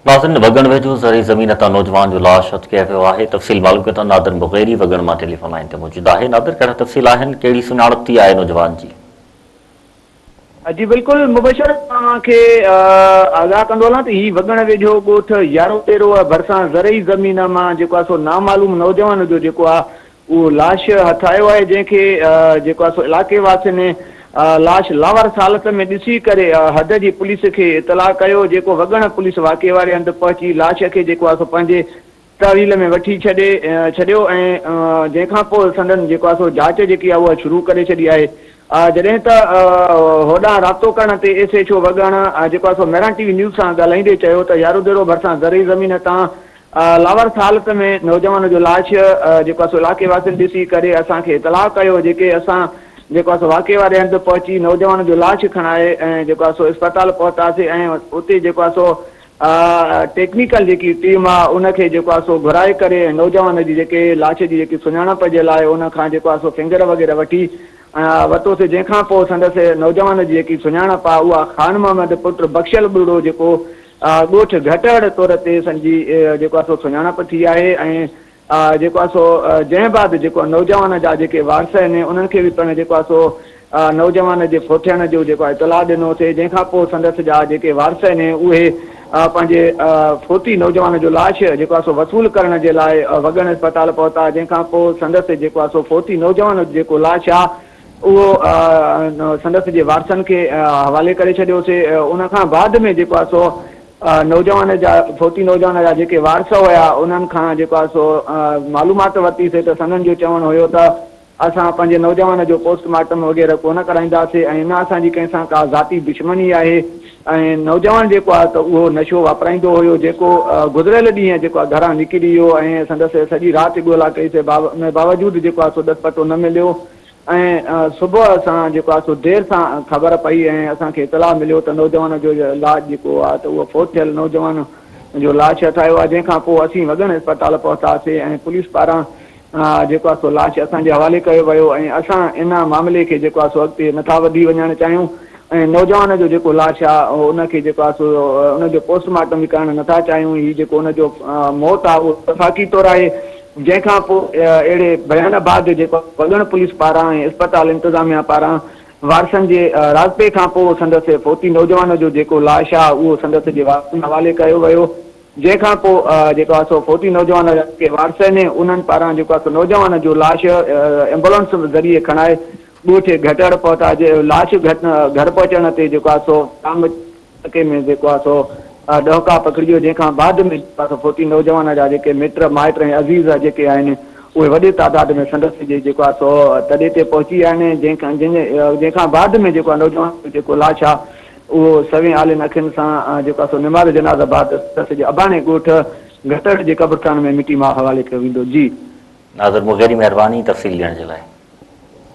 ناظرين وڳڻ ويجهو زرعي زمين تان نوجوان جو لاش اٽڪي ويو آهي تفصيل معلوم ڪيو ته نادر مغيري وڳڻ مان ٽيليفون لائين تي موجود آهي نادر ڪهڙا تفصيل آهن ڪهڙي سڃاڻپ ٿي آهي نوجوان جي. جي بلڪل مبشر توهان کي آگاهه ڪندو هلان ته هي وڳڻ ويجهو ڳوٺ يارو تيروء ڀرسان زرعي زمين مان جيڪو آهي سو نامعلوم نوجوان جو جيڪو آهي اهو لاش هٿ آيو آهي جنهن کي جيڪو آهي سو علائقي واسين لاش لاوارث حالت ۾ ڏسي ڪري حد جي پوليس کي اطلاع ڪيو جيڪو وڳڻ پوليس واقعي واري هنڌ پهچي لاش کي جيڪو آهي سو پنهنجي تحويل ۾ وٺي ڇڏي ڇڏيو ۽ جنهن کان پوء سندن جيڪو آهي سو جاچ جيڪي آهي اها شروع ڪري ڇڏي آهي جڏهن ته هوڏانهن رابطو ڪرڻ تي ايس ايڇ او وڳڻ جيڪو آهي سو مهراڻ ٽي وي نيوز سان ڳالهائيندي چيو ته ياروڌيرو ڀرسان زرعي زمين تان لاوارث حالت ۾ نوجوان جو لاش جيڪو سو علائقي واسين ڏسي ڪري اسان کي اطلاع ڪيو جيڪي اسان جيڪو سو واقعي واري هنڌ پهچي نوجوان جو لاش کڻائي ۽ جيڪو سو اسپتال پهتاسي ۽ اتي جيڪو سو ٽيڪنيڪل جيڪي ٽيم آ ان کي جيڪو سو گهرائي ڪري نوجوان جي جيڪي لاش جي جيڪي سڃاڻپ جي لاء ان کان جيڪو سو فنگر وغيره وٺي وتوسي جنهن کان پوء سندس نوجوان جي جيڪي سڃاڻپ آ اها خان محمد پٽ بخشل ٻرڙو جيڪو ڳوٺ گهٽهڙ طور تي سن جي جيڪو آهي سو سڃاڻپ ٿي آهي ۽ جيڪو آهي سو جنهن بعد جيڪو نوجوان جا جيڪي وارث آهن انهن کي به پڻ جيڪو آهي سو نوجوان جي ڦوٿيڻ جو جيڪو آهي اطلاع ڏنو سي جنهن کان پوء سندس جا جيڪي وارث آهن اهي پنهنجي ڦوٿي نوجوان جو لاش جيڪو آهي سو وصول ڪرڻ جي لاء وڳڻ اسپتال پهتا جنهن کان پوء سندس جيڪو آهي سو ڦوٿي نوجوان جيڪو لاش آهي اهو سندس جي وارثن کي حوالي ڪري ڇڏيو سي. ان کان بعد ۾ جيڪو آهي سو نوجوان جا فوتي نوجوان جا جيڪي وارث هيا انهن کان جيڪو آهي سو معلومات ورتي سي ته سندن جو چوڻ هيو ته اسان پنهنجي نوجوان جو پوسٽ مارٽم وغيره ڪونه ڪرائينداسي ۽ نه اسان جي ڪنهن سان ڪا ذاتي دشمني آهي. ۽ نوجوان جيڪو آهي ته اهو نشو واپرائيندو هيو جيڪو گذريل ڏينهن جيڪو آهي گهران نڪري ويو ۽ سندس سڄي رات ڳولا ڪئي سي ان باوجود جيڪو آهي سو ڏس پتو نه مليو ۽ صبح اسان جيڪو آهي سو دير سان خبر پئي ۽ اسان کي اطلاع مليو ته نوجوان جو لاش جيڪو آهي ته اهو فوت ٿيل نوجوان جو لاش هٿ آيو آهي جنهن کان پوء اسين وڳڻ اسپتال پهتاسي ۽ پوليس پاران جيڪو آهي سو لاش اسان جي حوالي ڪيو ويو ۽ اسان ان معاملي کي جيڪو آهي سو اڳتي نٿا وڌي وڃڻ چاهيون ۽ نوجوان جو جيڪو لاش آهي ان کي جيڪو آهي سو ان جو پوسٽ مارٽم به ڪرڻ نٿا چاهيون هي جيڪو ان جو موت آهي اهو وفاقي طور آهي جنهن کان پوء اهڙي بيان بعد جيڪو وڳڻ پوليس پاران ۽ اسپتال انتظاميا پاران وارثن جي رابطي کان پوء سندس فوتي نوجوان جو جيڪو لاش آهي اهو سندس جي وارثن حوالي ڪيو ويو جنهن کان پوء جيڪو آهي سو فوتي نوجوان جي وارثن ۽ انهن پاران جيڪو آهي سو نوجوان جو لاش ايمبولنس ذريعي کڻائي ڳوٺ گهٽڙ پهتا جي لاش گهر پهچڻ تي جيڪو آهي سو ٽانگ ٽڪي ۾ جيڪو آهي سو ڏهوڪا پکڙجيو جنهن کان بعد ۾ جيڪو آهي سو فوتي نوجوان جا جيڪي مٽ مائٽ ۽ عزيز جيڪي آهن اهي وڏي تعداد ۾ سندس جي جيڪو آهي سو تڏي تي پهچي ويا آهن جنهن کان بعد ۾ جيڪو آهي نوجوان جو جيڪو لاش آهي اهو سوين آلين اکين سان جيڪو آهي سو نماز جنازه بعد سسئي جي اباڻي ڳوٺ گهٽڙ جي قبرستان ۾ مٽي ماء حوالي ڪيو ويندو. جي. ناظر مغيري مهرباني تفصيل ڏيڻ جي لاء.